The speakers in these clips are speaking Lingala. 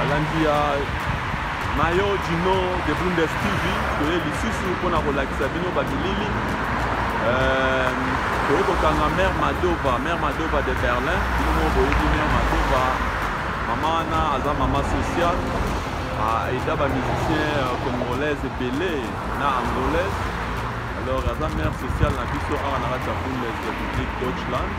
balandi ya mayo dino de bundes tv toye lisusu mpona kolakisa bino babilili euh, toye kokanga mare madova mare madova de berlin bino boyebi mare madova mama wana aza mama social aida bamusicien euh, congolaise ebele na angolaise alors aza mare sociale na biso awa na kati ya bundes de publique deutschland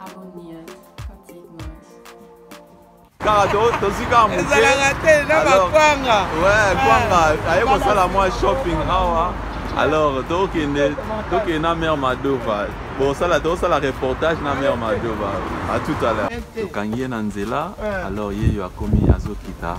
Abonniert, Patrick Mash. kaka tozwi kaka mokeezalaka te na bakwanga we kwanga ah. aye kosala mwa shopping awa alors tokende tokende na mare madova bosala tosala reportage na mare madova a tout à l'heure tokangi ye na nzela eh. alors ye yo akomi azokita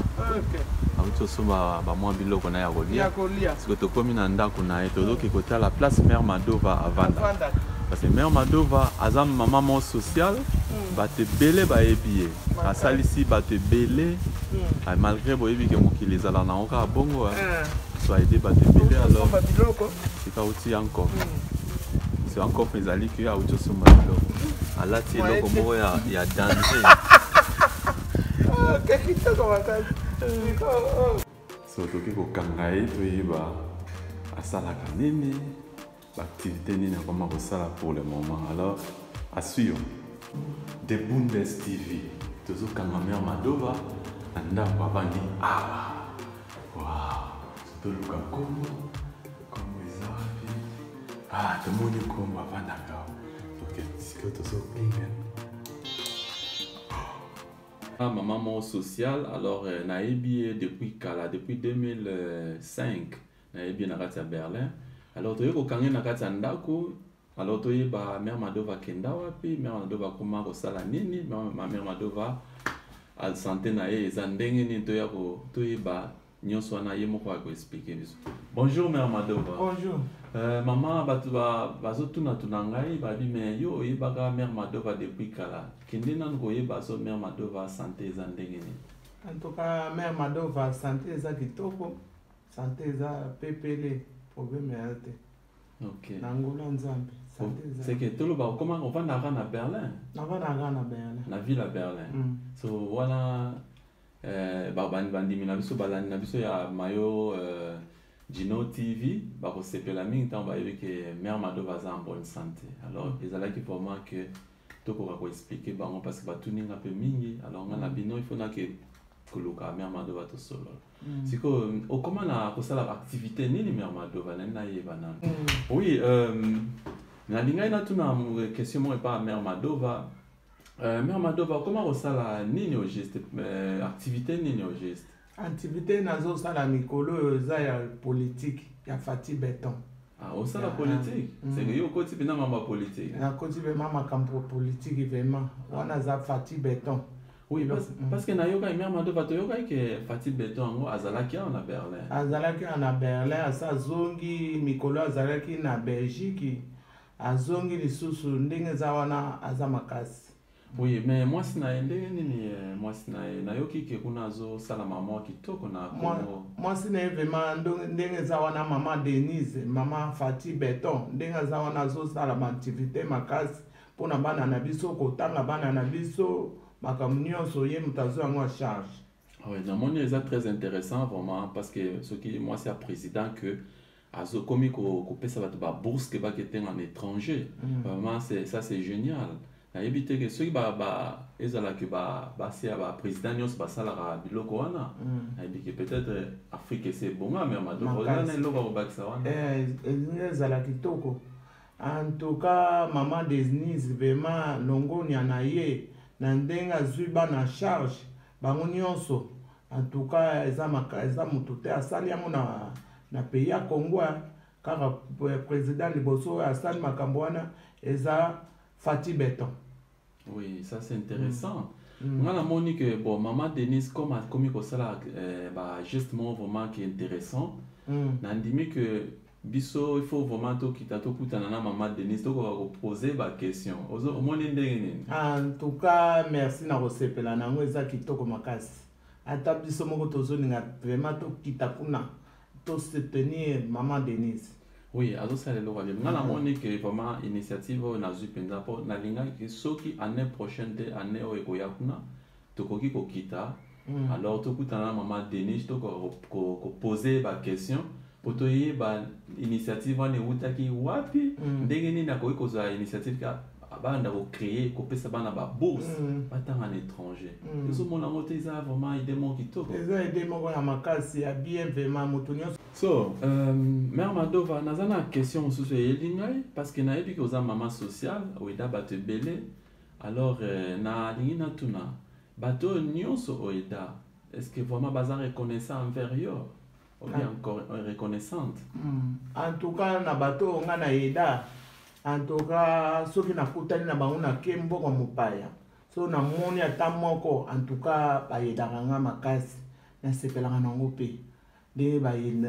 auti osomba bamwa biloko na ya kolia siko tokomi na ndako na ye tozoki kotala place mare madova avanda Parce que mère Madova aza maman moko sociale, mm. bato ebele bayebi ye, asalisi bato ebele mm. ah, malgré boyebi ke mokili ezala nango kaka bongo eh. ah. so aide bato ebele alors sika auti ya nkoko mm. so ya nkoko ezali ke auti osomba biloko alati eloko moko ya danger ah, so toki kokanga ye toyeba asalaka nini B'activite nini akoma kosala pour le moment alors assure de Bundes TV tozokanga mère Madova na ndako avandi awa wow toluka nkombo nkombo eza wapi ah tomoni nkombo avandaka awa ok sikoyo tozopinga Ah, maman moko sociale alors euh, nayebi ye depuis kala depuis 2005 nayebi na kati ya berlin alors toye kokange na kati ya ndako alors toyeba mare madova akenda wapi mare madova akoma kosala nini mare madova sante na ye eza ndenge nini toya toyeba nyonso wana ye moko akoexplike biso bonjour mare madova bonjour Euh, mama bato bazotunatuna ngai babi me yo oyebaka mare madova depuis kala kende nanu koyeba so mare madova sante eza ndenge nini en tout cas mare madova sante eza kitoko sante eza pepele probleme ya te okay. na ngola nzambe seke toloba okoma ovandaka na berlin navandaka na berlin na ville ya berlin mm. so wana eh, bandimi na biso balandi na biso ya mayo eh, gino tv bakosepela mingi ntango bayebi ke mare mado baza en bonne santé alors mm. ezalaki pour moi que tokoka koexplike bango parce que batuni nga mpe mingi alors nga na mm. bino il faut nake koluka mare mado batosolola Mm. sikoyo okoma na kosala baaktivité nini mère madova nani nayeba nano mm. oui euh, nalingaki natuna question moko epa mère madova euh, mère madova okoma kosala nini au geste euh, activité nini au geste activité nazosala mikolo oyo eza ya politique ya fati beton Ah, osala ah, politike ah. mm. seke yo okoti mpenza mama politike nakoti mpenza makambo politike vraimen wana aza fati beton Oui, parce, mm. parce que nayokaki mère Madova toyokaki ke Fatih Beton yango azalaki awa na Berlin. Azalaki awa na Berlin, asa azongi mikolo azalaki na Belgique, azongi lisusu ndenge eza wana aza makasi. Oui, mais mwasi na ye ndenge nini eh, mwasi na ye nayoki ke kuna azosala mama kitoko na Congo. Mwasi na ye vraiment ndenge eza wana mama Denise, mama Fatih Beton ndenge aza wana azosala ba activité makasi mpo na bana na biso kotanga bana na biso makambo nyonso ye moto azwi yango a charge ah oui, namoni eza très intéressant vraiment parce que soki mwasi ya président que azokomi kopesa bato babourse ke baketenga na étranger mm. vraiment ça c'est génial nayebi te ke soki ezala ke basi ya baprésident nyonso basalaka biloko wana mm. nayebi ke peut-être afrique ese ebonga me ya madoko eza na eloko akobakisa wana eh, ezala kitoko En tout cas, maman Denise vraiment longonya na ye na ndenge azwi bana charge bango nyonso en tout cas eza, maka, eza moto te asali yango na, na pays ya Congo kaka president liboso oyo asali makambo wana eza Fatih Beton. Oui, ça c'est intéressant. Mm. mm. Nga namoni que bon maman Denise comme akomi kosala euh, ba geste moko vraiment qui est intéressant. Mm. Nandimi que biso il faut vraiment tokita tokutana na maman Denise tokoka kopose ba question ozo omoni ndenge nini? En tout cas merci na kosepela nango eza kitoko makasi. Ata biso moko tozolinga vraiment tokita kuna. To soutenir maman Denise. Oui, azosala eloko ayebi. Nga namoni ke vraiment initiative oyo nazwi mpenza mpo nalingaki soki année prochaine te année oyo ekoya kuna tokoki kokita mm. alors tokutana na mama Denis tokoka kopose baquestion mpo toyeba initiative wana ewutaki wapi mm. ndenge nini akoki kozwa initiative abanda kocree kopesa bana babourse mm. batanga na étranger mm. ezomona yango te eza vraiment ide moko kitoko eza ide moko ya makasi ya bien vraiment moto nyonso so euh, mare madova naza na question mosusu eyeli ngai parce que nayebi ke oza mama sociale oyeda bato ebele alors euh, nalingi natuna bato oyo nyonso oyeda est ce que vraiment baza reconnaissant envers yo obi encore reconnaissante hmm. en tout cas na bato oyo ngai na eda en tout cas soki nakutani na bango nake mboka mopaya so namoni ata moko en tout cas bayedaka ngai makasi nasepelaka nango mpe ndenge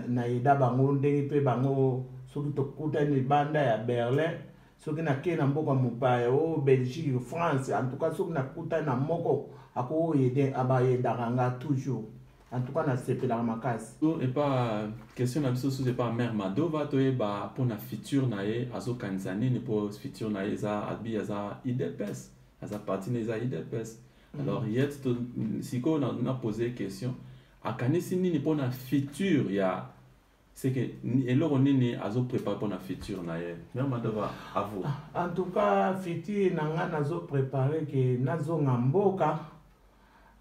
nayeda bango ndenge mpe bango soki tokutani libanda ya berlin soki nakei na mboka mopaya o oh, belgique france en tout cas soki nakutani na moko akoyede abayedaka ngai toujours en tout cas nasepelaka makasi to epa question na biso susu epa mare madova toyeba mpona future na ye azokanisa nini mpo future na ye eza abi aza idps aza parti na eza idps mhm. alors yet sikoyo na pose question akanisi nini mpona future ya c'est que eloko nini azo prépare pona futur na ye mère madova à vous ah, en tout cas futur na nga nazo prépare ke nazonga mboka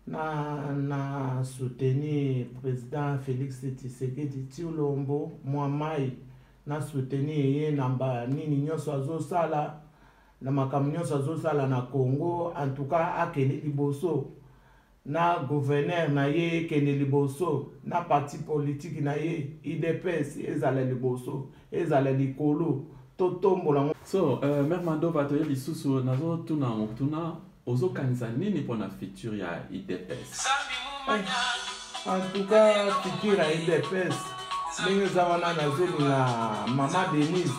na na soutenir président félix tshisekedi tiolombo mwa mai na soutenir ye na ba nini nyonso azosala na makambo nyonso azosala na congo en tout cas akende liboso na gouverneur na ye ekende liboso na parti politiki na ye idps ezala liboso ezala likolo totombola yango so uh, mare mandova toye lisusu nazotuna yango tuna ozokanisa nini mpo na future ya idps eh, en tout cas future ya idps ndenge eza wana nazolinga mama denise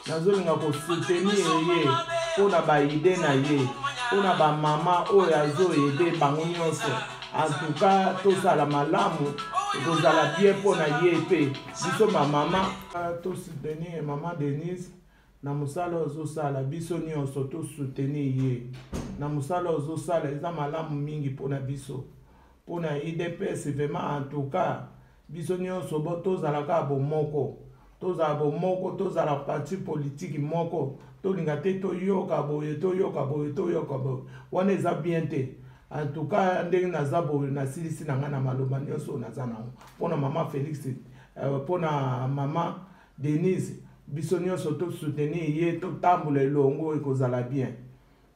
nazolinga kosoutenir ye mpo na baide na ye mpo na bamama oyo azoede bango nyonso antuka tosala malamu ekozala bien mpo na ye mpe biso bamama tosoutenir mama denise na mosala ozosala biso nyonso tosoutenir ye na mosala ozosala eza malamu mingi mpo na biso mpo na idps vraimen antuka biso nyonso bo tozala kaka bomoko tozala bomoko tozala parti politiki moko tolinga te toyoka boye toyoka boye toyoka boye wana eza bien te antuka ndenge naza boye nasilisi na ngai na maloba nyonso oyo naza nango mpo na mama félix euh, mpo na mama denise biso nyonso tosoutenir ye totambola elongo ekozala bien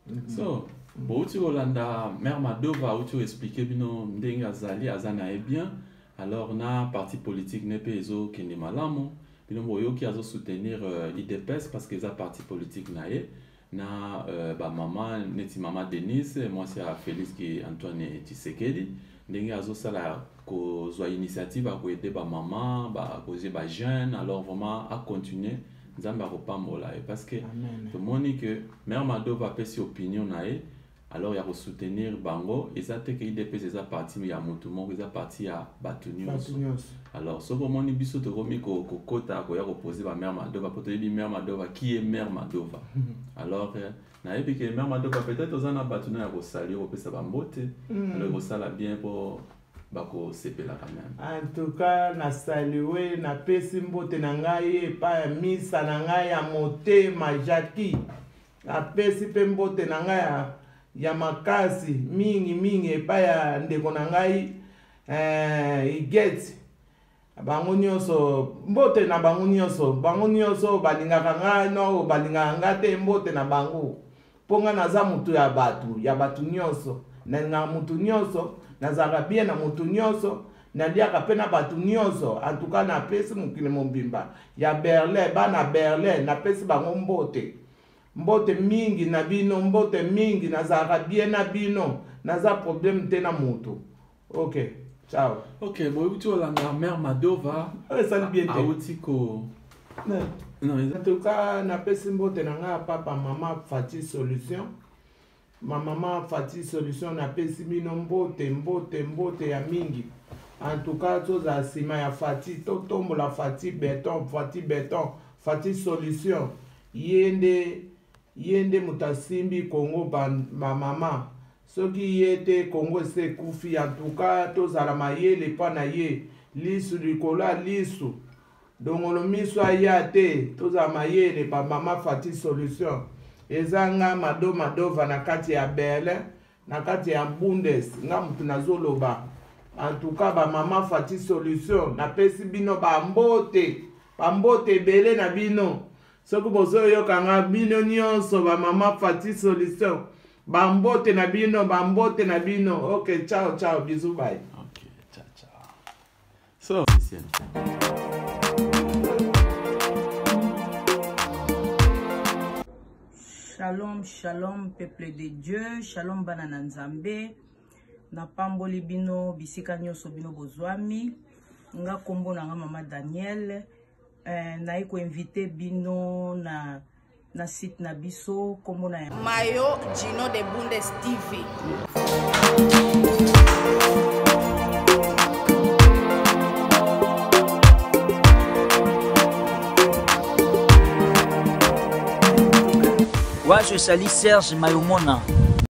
Mhm. so bouti kolanda mare madova auti oexplike bino ndenge azali aza na ye bien alors na parti politique ne mpe ezokende malamu bino boyoki azosoutenir euh, idps parce que eza parti politique na ye na euh, bamama neti mama denise mwasi ya félix antoine tshisekedi ndenge azosala kozwa initiative akoede bamama bakoze bajeune alors vraiment acontinue nzambe akopambola ye parce que tomoni que mare madova apesi opinion na ye alors ya kosoutenir bango eza te ke idps eza parti ya motu moko eza parti ya bato nyonso alors soki omoni biso tokomi kokota koya kopose bamare madova mpo toyebi mare madova qui est mare madova alors euh, nayebi ke mère madoka peut-être oza na bato na ya kosali yo kopesa bambote mm. alo ekosala bien mpo bakosepelaka meme antuka nasaliwe napesi mbote na ngai epai ya misa na ngai ya motema jaki napesi mpe mbote na ngai ya, ya makasi mingi mingi epai ya ndeko na ngai eh, igeti bango nyonso mbote na bango nyonso bango nyonso balingaka ngai nao balingaka ngai te mbote na bango mpo ngai naza motu ya bato ya bato nyonso nalingaka motu nyonso nazalaka bie na motu nyonso naliaka mpe na bato nyonso antuka napesi mokili mobimba ya berlin bana berlin napesi bango mbote mbote mingi na bino mbote mingi nazalaka bie na bino naza probleme te na motu ok ciao ok boyebi ti olanda mare madova esali bien te auti ko en tout cas napesi mbote na ngai ya papa mama fati solution mamama fati solution napesi bino mbote mbote mbote ya mingi en tout cas tozala nsima ya fati totombola fati beton fati beton fati solution ye nde ye nde moto asimbi kongo bamama soki ye te congo esi ekufi antuka tozala mayele mpo na ye lisu likolo ya lisu dongolo miso aya te tozala mayele ba mama fati solution eza nga mado madova na kati ya berlin na kati ya bundes nga motu nazoloba antuka ba mama fati solution napesi bino bambote bambote ebele na bino soki bozoyoka nga bino nyonso ba mama fati solution Ba mbote na bino, ba mbote na bino. Okay, ciao ciao, bisous bye. Okay, ciao ciao. So, listen. Shalom, shalom, peuple de Dieu, shalom bana na Nzambe. Napamboli bino bisika nyonso bino bozwami. Nga kombo na nga mama Daniel. Eh, naye ko invite bino na na site na biso kombo na mayo gino de bundes tv wazo esali serge mayomona